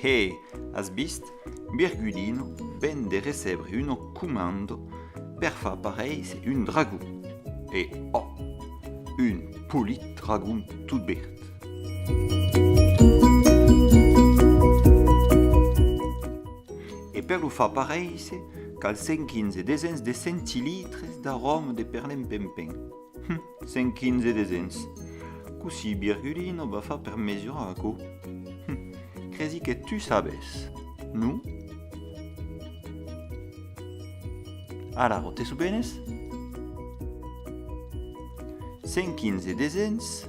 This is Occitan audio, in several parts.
Hehe! As vist? Birgudino ven de recebre un auc comando per far paréisser un dragon. E, oh! Un polit dragon tot verd! E per lo far paréisser, cal 115 desens de centilitres d'aròma de pernenpenpen. Hum, 115 desens! Cossí Virgulino va far per mesurar aquò? Hum, cresi que tu sabes, non? Alara, te sobenes? 115 desens.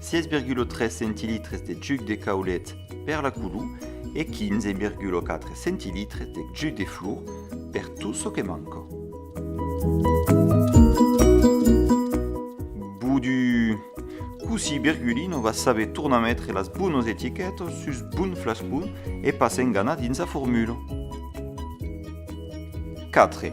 16,3 centilitres de juc de caulet per la culu e 15,4 centilitres de juc de flor per tot çò que manca. Bodu! Cossí Virgulino va saber tornar metre las bonas etiquetas sus bon flascon e pas enganar dins la formula. 4.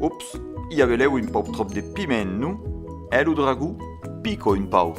Ops, i avelèu un pauc tròp de piment, non? Eh, lo dragó? Pico un pauc.